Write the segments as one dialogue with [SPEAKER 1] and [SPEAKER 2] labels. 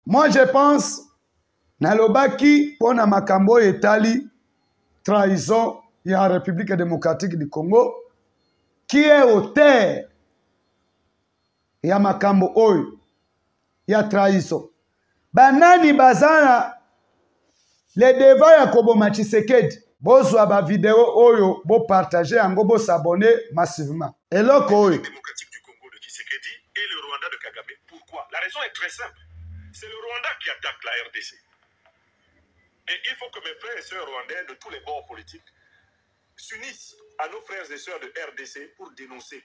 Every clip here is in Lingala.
[SPEAKER 1] moi je pense nalobaki mpo na makambo oyo etali trahison ya république démocratique du congo qui est auteur ya makambo oyo ya trahison banani baza na le devant ya koboma tshisekedi bozwa bavideo oyo bopartage yango bosabone massivement eloko oyo et
[SPEAKER 2] le Rwanda de Kagame. Pourquoi La raison est très simple. C'est le Rwanda qui attaque la RDC. Et il faut que mes frères et sœurs rwandais de tous les bords politiques s'unissent à nos frères et sœurs de RDC pour dénoncer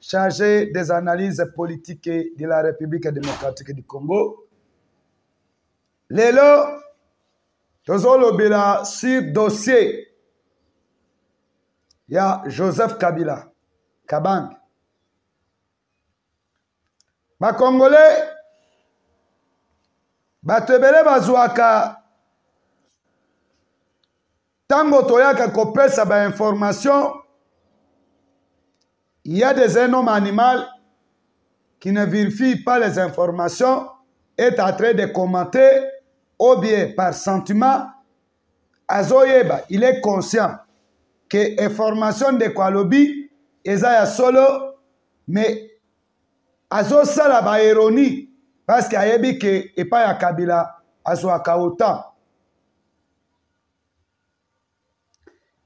[SPEAKER 1] chargé des analyses politiques de la République démocratique du Congo. Lelo, tozolobela sur dossier ya Joseph Kabila Kabang. Ba Congolais bato ebele bazwaka ntango toyaka kopesa bainformation ya des un homme animal qui ne vérifie pas les informations est en train de commenter ou bien par sentiment azoyeba il est conscient que information ndeko alobi eza ya solo mais azosala baironie parce que ayebi ke epai ya kabila azwaka otan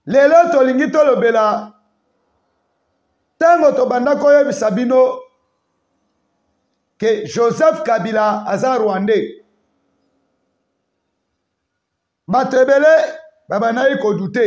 [SPEAKER 1] lelo tolingi tolobela ntango tobanda koyebisa bino ke joseph kabila aza rwandais bato ebele babandaki kodute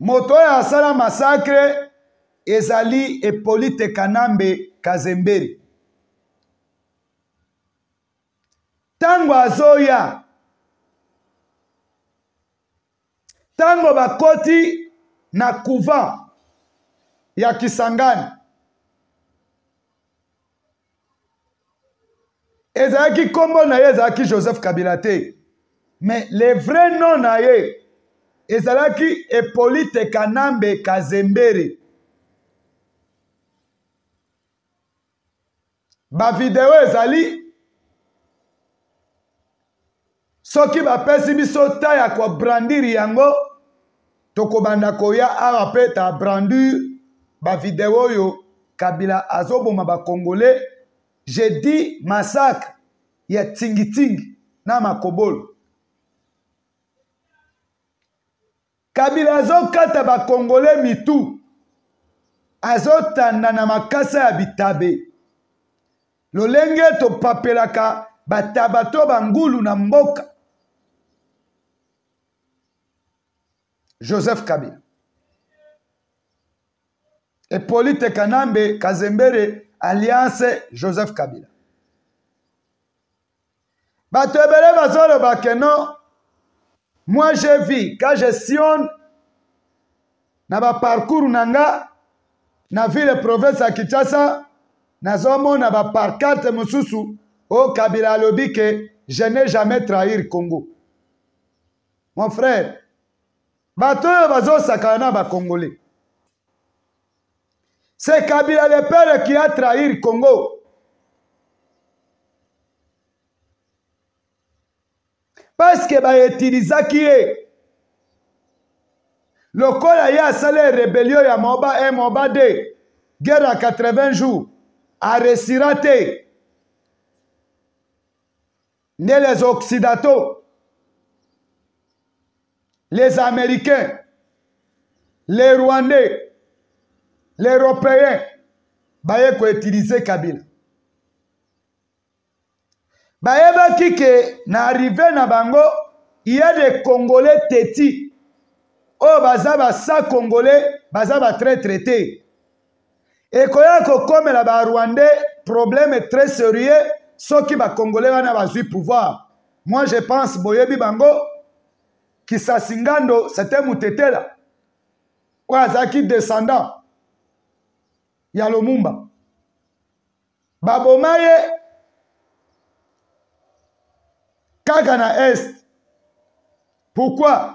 [SPEAKER 1] moto oyo asala masakre ezali epolite kanambe kazemberi ntango azoya ntango bakoti na couvent ya kisangani ezalaki nkombo na ye ezalaki joseph kabila te mais le vrai nom na ye ezalaki epolite kanambe kazembere bavideo ezali soki bapesi biso ta ya kobrandire yango tokobanda koya awa mpe ta brandure bavideo oyo kabila azoboma bakongole je dis massacre ya tingitingi na makobolo kabila azokata bakongole mitu azotanda na makasa ya bitabe lolenge topapelaka bataba to bangulu na mboka joseph kabila epolite kanambe kazembere alliance joseph kabila bato ebele bazoloba ke non moi je vis ka je sionne na baparcours na nga na ville province ya kinshasa nazomona baparcarte mosusu oyo kabila alobi ke je ne jamais trahir congo mon frère bato oyo bazosakana na bakongole C'est Kabila le père qui a trahi Congo. Parce que ba utilisaki ye lokola ye asala rebellion ya moba 1 moba 2 guerre ya 80 jours aresira te nde les occidentaux les américains les rwandais les européens baye koutilize kabila bayebaki ke na arrive na bango ya de congolais teti oyo baza basa congolais baza batraitre te ekoya kokomela ba rwandais problème très sérieux soki ba congolais wana bazwi pouvoir moi je pense boyebi bango kisasi ngando c'était mutetela oyo azalaki descendant ya lomumba baboma ye kaka na est pourquoi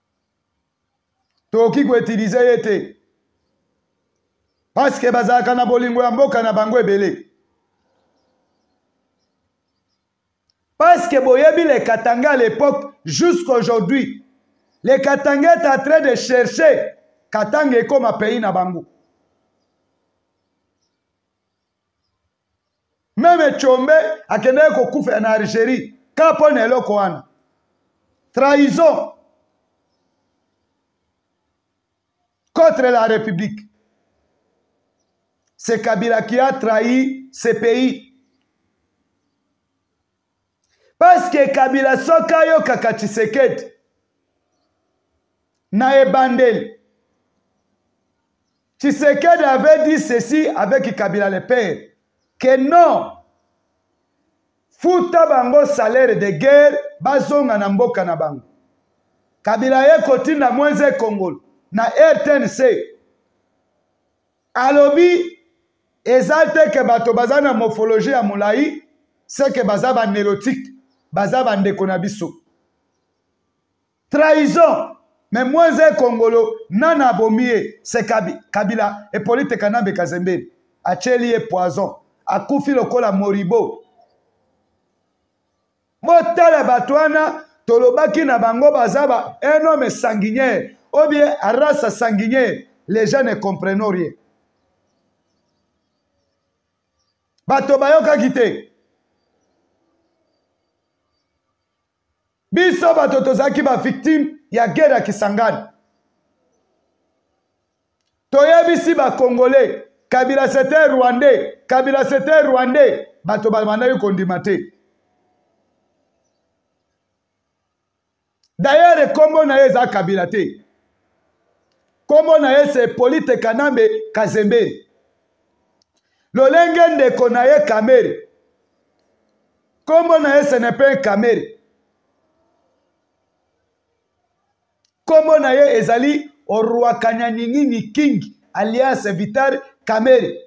[SPEAKER 1] tokoki koutilize ye te paske bazalaka na bolingo ya mboka na bango ebele paske boyebi le katanga à l'époque jusqu'aujourd'hui le katanga est en train de chercher katanga ekoma pays na bango meme combe akendaki kokufela na algérie kaka mpo na eloko wana trahison contre la république c'est kabila qui a trahi ce pays paske kabila soki ayokaka tshisekedi na ebandeli tshisekedi avait dit ceci avec kabila le père que non futa bango salaire de guerre bazonga na mboka na bango kabila ye kotinda mwenze kongolo na rtnc alobi eza te ke bato baza na morphologie ya molai seke baza banelotique baza bandeko na biso trahison me mwanze ekongolo nana abomi ye se kabila epolite kanambe kazembeli atyeli ye poison akufi lokola moribo botala bato wana tolobaki na bango baza ba un homme sanguinier ou bien race sanguinier les gens ne comprennent rien bato bayokaki te biso bato tozalaki bavictime ya guerre ya kisangani toyebisi ba congolais kabila c'était rwandais kabila c'était rwandais bato babandaki kondima te dayere nkombo na ye eza kabila te nkombo na ye se polite kanambe kazemberi lolenge ndeko na ye kamere nkombo na ye senepe kamere Kombo na ye ezali Oruakanyanyingini King alias Vital Kamere.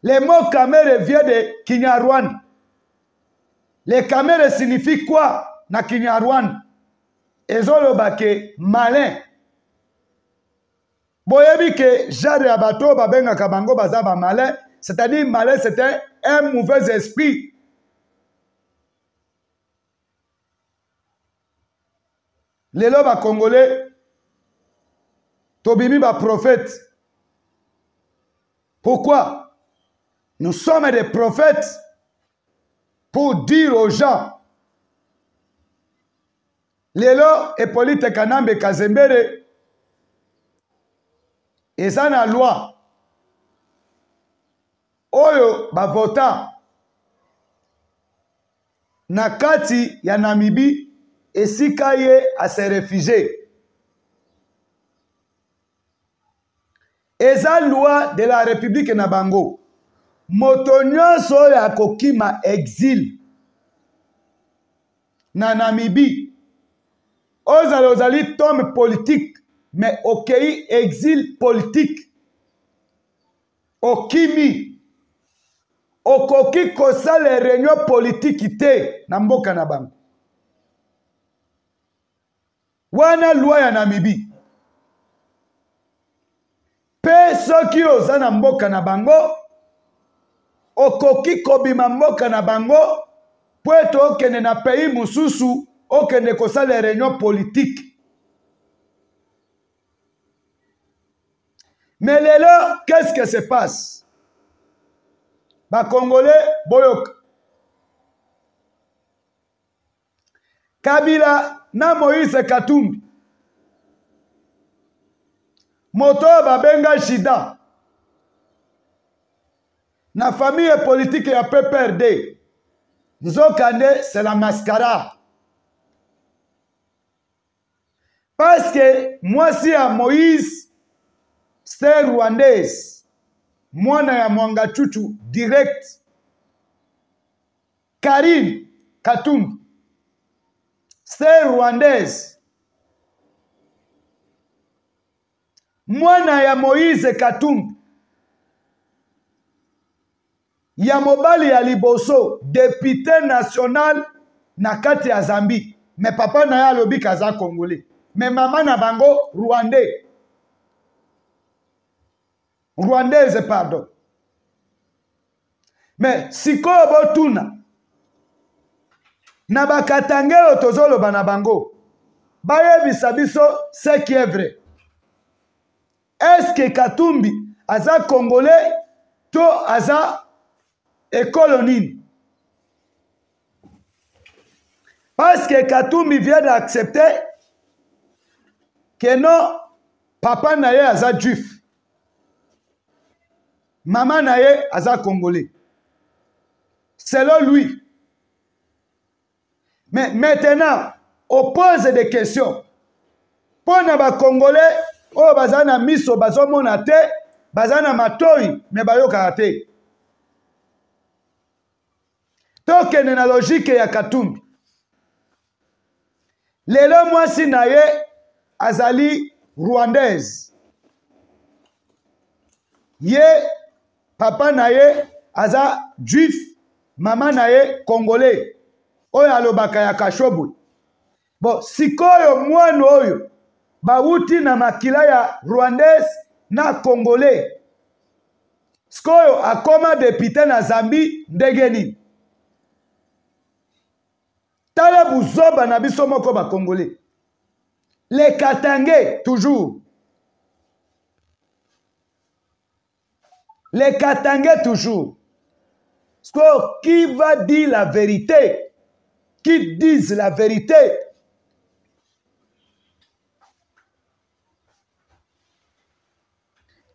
[SPEAKER 1] Le mot Kamere vient de Kinyarwanda. Le Kamere signifie quoi na Kinyarwanda? Ezoloba ke malin. Boyebi ke genre ya bato babengaka bango baza ba malin, c'est-à-dire malin c'est un mauvais esprit lelo bakongole tobimi baprofete pourquoi nous sommes des prophètes pour dire aux gens lelo epolite kanambe kazembere eza na loi oyo bavota na kati ya Namibie esika ye ase refugie eza loi de la république na bango moto nyonso oyo akokima exile na Namibie ozala ozali tome politique mais okei exile politique okimi okoki kosala réunion politiki te na mboka na bango wana lwa ya namibi mpe soki oza na mboka na bango okoki kobima mboka na bango mpo ete okende na pays mosusu okende kosala réunion politiki Mais les leurs, qu'est-ce qui se passe Bah Congolais, boyok. Kabila na Moïse Katumbi. Moto babenga Jida. Na famille politique ya PPRD. Nzokande, c'est la mascara. parce que mwasi ya moïse ster rwandaise mwana ya mwanga chuchu direct karine katumbi ster rwandaise mwana ya moïse katumbi ya mobali ya liboso depute national na kati ya zambie me papa na ye alobi kaza congolais me mama na bango rwandais rwandaise pardon me sikoyo botuna na bakatange oyo tozoloba na bango bayebisa biso ce qui est vrai eske katumbi aza congolais to aza ekolo nini parce que katumbi vient d'accepter que non papa na ye aza juif mama na ye aza congolais selon lui mais maintenant opose des questions mpo na bacongolais oyo baza na miso bazomona te baza na matoi me bayokaka te tokende na logike ya katumbi lelo mwasi na ye azali rwandaise ye papa na ye aza juif mama na ye congolais oyo alobaka ya kashobu bon sikoyo mwana oyo bawuti na makila ya rwandais na congolais sikoyo akoma depute na zambi ndenge nini tala buzoba na biso moko bacongolais le katange toujours les katangais toujours sikoyo qui va dire la vérité qui disent la vérité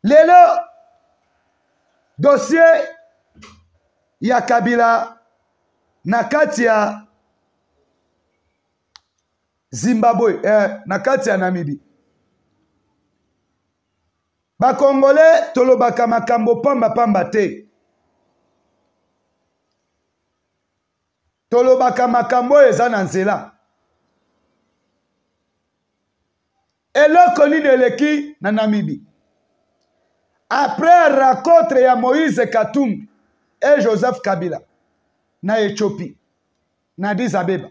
[SPEAKER 1] lelo dossier ya kabila na kati ya zimbabwe eh, na kati ya namibie bakongole tolobaka makambo pambapamba te tolobaka makambo oyo eza na nzela eloko nini eleki na namibi après rencontre ya moïse katumbi e joseph kabila na ethiopie na disabeba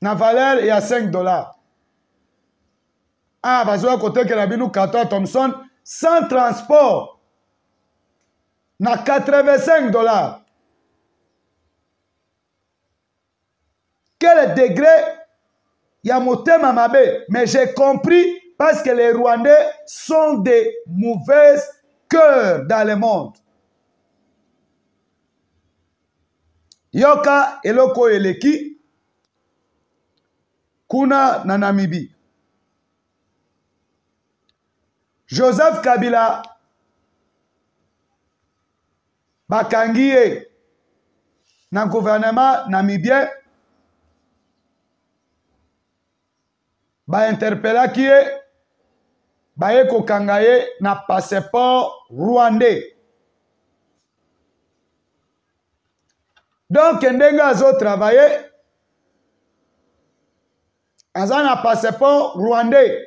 [SPEAKER 1] na valeur ya 5 dollars ah bazoya kotekela bino carton ya thomson sans transport na 85 dollars quel degré ya motema mabe mais j'ai compris parce que les rwandais sont des mauvaises cœurs dans le monde yoka eloko oyo eleki kuna na namibi joseph kabila bakangi ye na guvernema namibien bainterpelaki ye baye kokanga ye na passeport rwandais donk ndenge azotravaille aza na passeport rwandais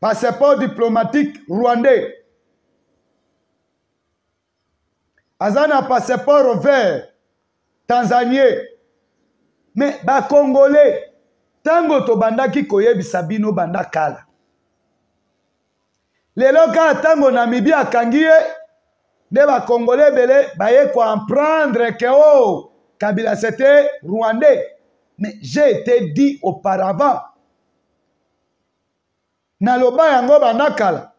[SPEAKER 1] passeport diplomatique rwandais aza na passeport vert tanzanie me bacongolais ntango tobandaki koyebisa bino banda kala lelo kaka ntango namibi akangi ye nde bakongole ebele baye koemprendre ke o oh, kabila sete rwandais mais j'ai été dit auparavant naloba yango banda kala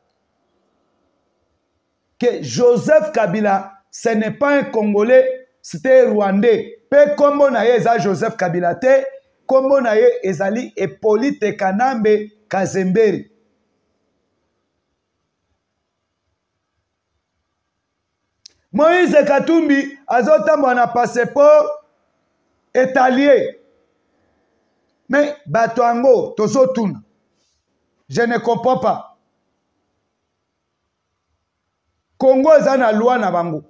[SPEAKER 1] ke joseph kabila ce n'est pas un congolais c'était rwandais mpe nkombo na ye eza joseph kabila te nkombo na ye ezali epolite kanambe kazemberi moïse katumbi azotambola na passeport etalie me bato yango tozotuna je ne comprends pas congo eza na loi na bango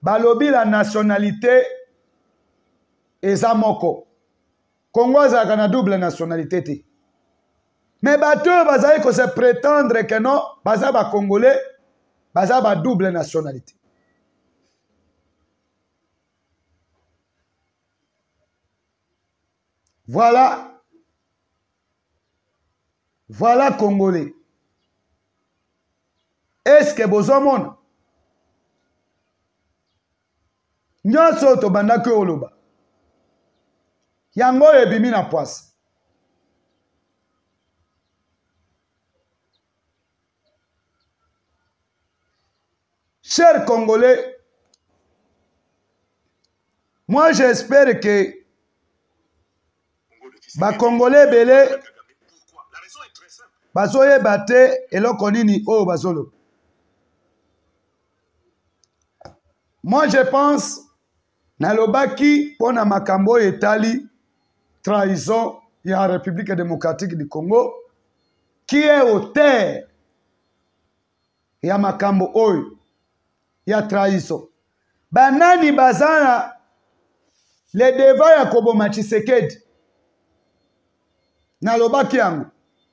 [SPEAKER 1] balobi la nationalité eza moko congo azalaka na double nationalité te me bato oyo bazali kose prétendre ke non baza bacongolais baza ba double nationalité voilà voilà congolais est ce que bozomona nyonso oyo tobandaki oyo oloba yango oyo ebimi na pwasi cher congolais moi j'espère que bacongolais ebele bazoyeba te eloko nini oyo bazoloba moi je pense nalobaki mpo na makambo oyo etali trahison ya république démocratique du congo qui est auteur ya makambo oyo ya trahison banani baza na le deva ya koboma tshisekedi nalobaki yango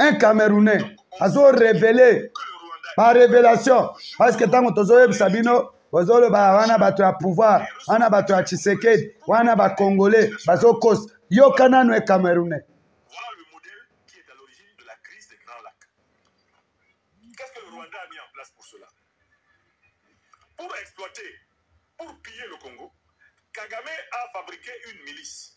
[SPEAKER 1] un camerounais azo révélé ba révélation parce que ntango tozoyebisa bino bozoloba wana bato ya pouvoir wana bato ya tshisekedi wana bacongolais bazokosa yoka nano e camerounais
[SPEAKER 2] Pour exploiter, pour piller le Congo, Kagame a fabriqué une milice.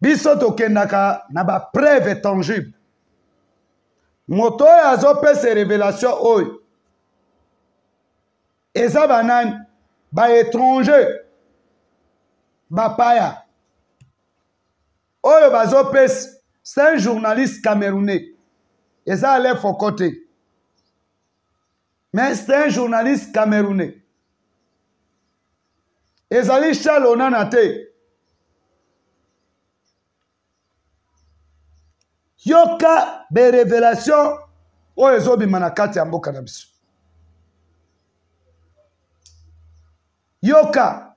[SPEAKER 1] biso tokendaka na bapreuve tangible moto oyo azopesa révélation oyo eza banani baétranger bapaya oyo bazopesa c'est un journaliste camerounais eza alefoko te mais c'est un journaliste camerounais ezali charles onana te yoka berevelation oyo ezobima na kati ya mboka na biso yoka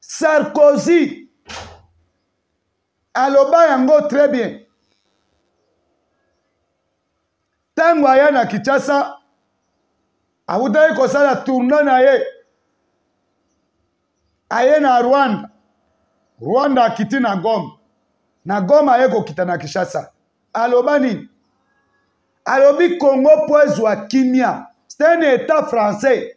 [SPEAKER 1] sarkozy aloba yango très bien ntango aya na kinshasa awutaki kosala tourna na ye aye na rwanda rwanda akiti na goma na goma aye kokita na kinshasa aloba nini alobi congo mpo ezwa kimia c'est un état français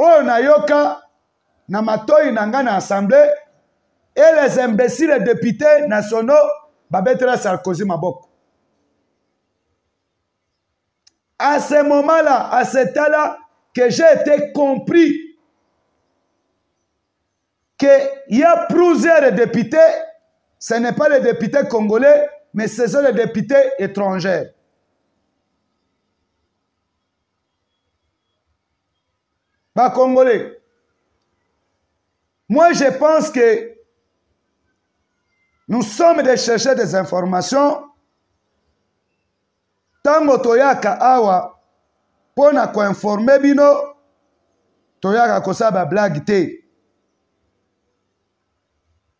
[SPEAKER 1] oyo nayoka na matoi na ngai na assemblée et les imbéciles députés nationaux babetela sarkozy maboko à ce moment là à ce temps là que j'ai été compris qu'il y a plusieurs députés ce n'est pas les députés congolais mais ce sont les députés étrangers ba congolais moi je pense que nous sommes des chercheurs des informations ntango toyaka awa mpo na koinforme bino toyaka kosala bablage te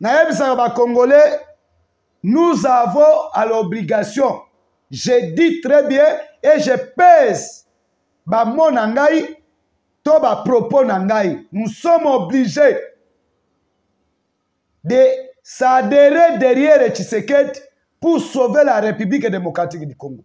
[SPEAKER 1] nayebisaka bacongolais nous avons à l'obligation je dis très bien et je pèse bamona ngai to bapropos na ngai nous sommes obligés de s'adhérer derrière tshisekedi pour sauver la république démocratique du congo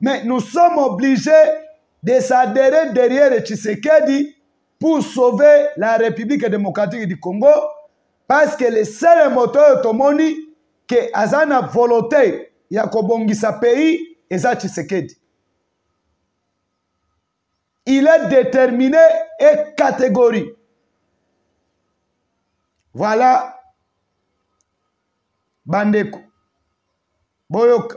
[SPEAKER 1] Mais nous sommes obligés de s'adhérer derrière Tshisekedi pour sauver la République démocratique du Congo parce que le seul moteur tomoni que aza na volonté ya kobongisa pays eza Tshisekedi. Il est déterminé et catégorie. Voilà bandeko boyoka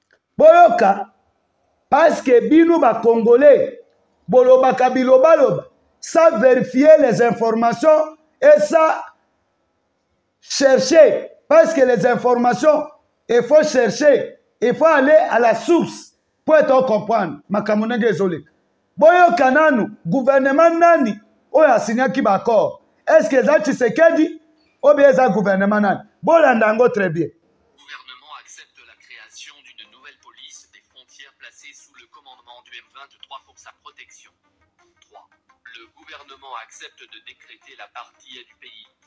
[SPEAKER 3] boyoka
[SPEAKER 1] paske bino bacongolais bolobaka bilobaloba sa verifier les informations et sa chercher parce que les informations il faut chercher il faut aller à la source mpo ete ocomprendre makambo ndenge ezoleka boyoka nanu guvernema nani oyo asinyaki baaccord estce eza tshisekedi obe eza guvernema nani bolanda yango très bien
[SPEAKER 3] Le gouvernement accepte de décréter la partie du pays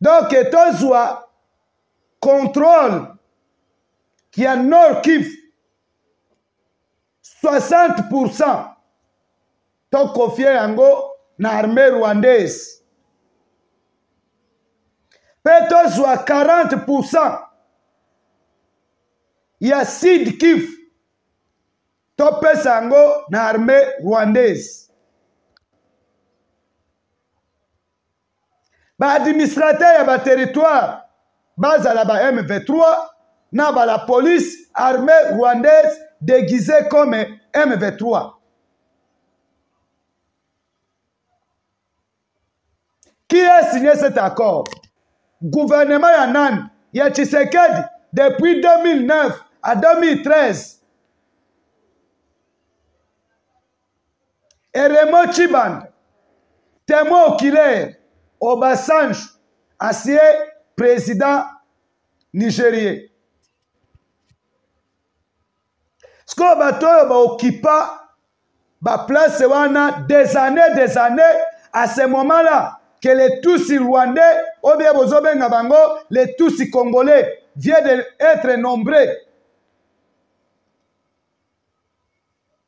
[SPEAKER 1] donc tozwa contrôle ya nord kivu 60 pourcent tokofie yango na armée rwandaise mpe tozwa 40 pourcent ya sud kivu topesa yango na armée rwandaise ba administrateur ya ba territoire bazala ba M23 na ba la police armée rwandaise déguisée comme M23 qui a signé cet accord gouvernement ya nani ya Tshisekedi depuis 2009 à 2013 et Raymond Chiban témoin oculaire Obasanjo ancien président nigérien sikoyo bato oyo baokipa baplace wana des années des années à ce moment là que les tusi rwandais oyo bie bozobenga bango les tusi congolais vient de être nombreux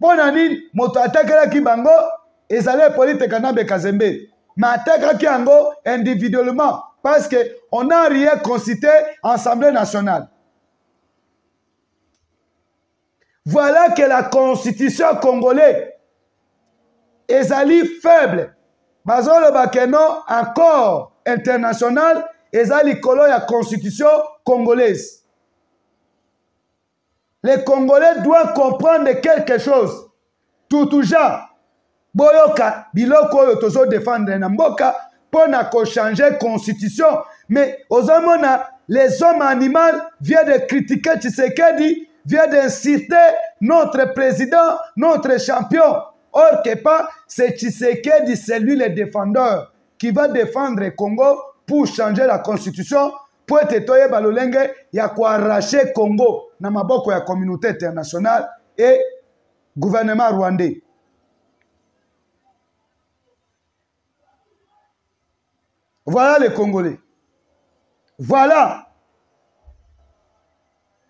[SPEAKER 1] mpo na nini moto atakelaki bango ezali epolite kanambe kazembe me atakaki yango individuellement parce que on a rien consulté assemblée nationale voilà que la constitution congolais ezali faible bazoloba ke non accord international eza likolo ya constitution congolaise le congolais doit comprendre quelque chose tutuja boyoka biloko oyo tozodefendre na mboka mpo na kochange constitution mais ozomona les hommes animal vient de critiquer tshisekedi vient d'insulter notre président notre champion or que pas c'est tshisekedi celui le défendeur qui va défendre congo pour changer la constitution mpo ete toyeba lolenge ya koarrache congo na maboko ya communauté internationale e gouvernement rwandais voilà les congolais voilà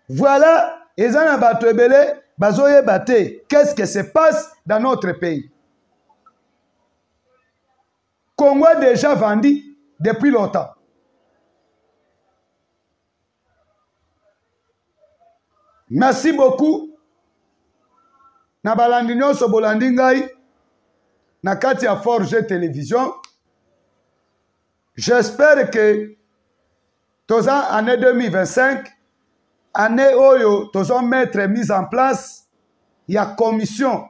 [SPEAKER 1] voilà eza na bato ebele bazoyeba te qu'est ce que se passe dans notre pays Congo est déjà vendu depuis longtemps. Merci beaucoup. Na balandi nyonso bolandi ngai na kati ya Forge Télévision. J'espère que toza année 2025 année oyo tozo mettre mise en place ya commission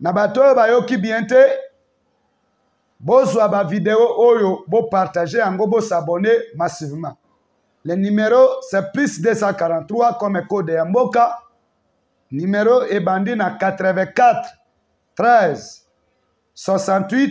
[SPEAKER 1] na bato oyo bayoki bien te bozwa bavideo oyo bopartage yango bosabone massivement le numero c'est plus 243 comme code ya mboka numero ebandi na 84 13 68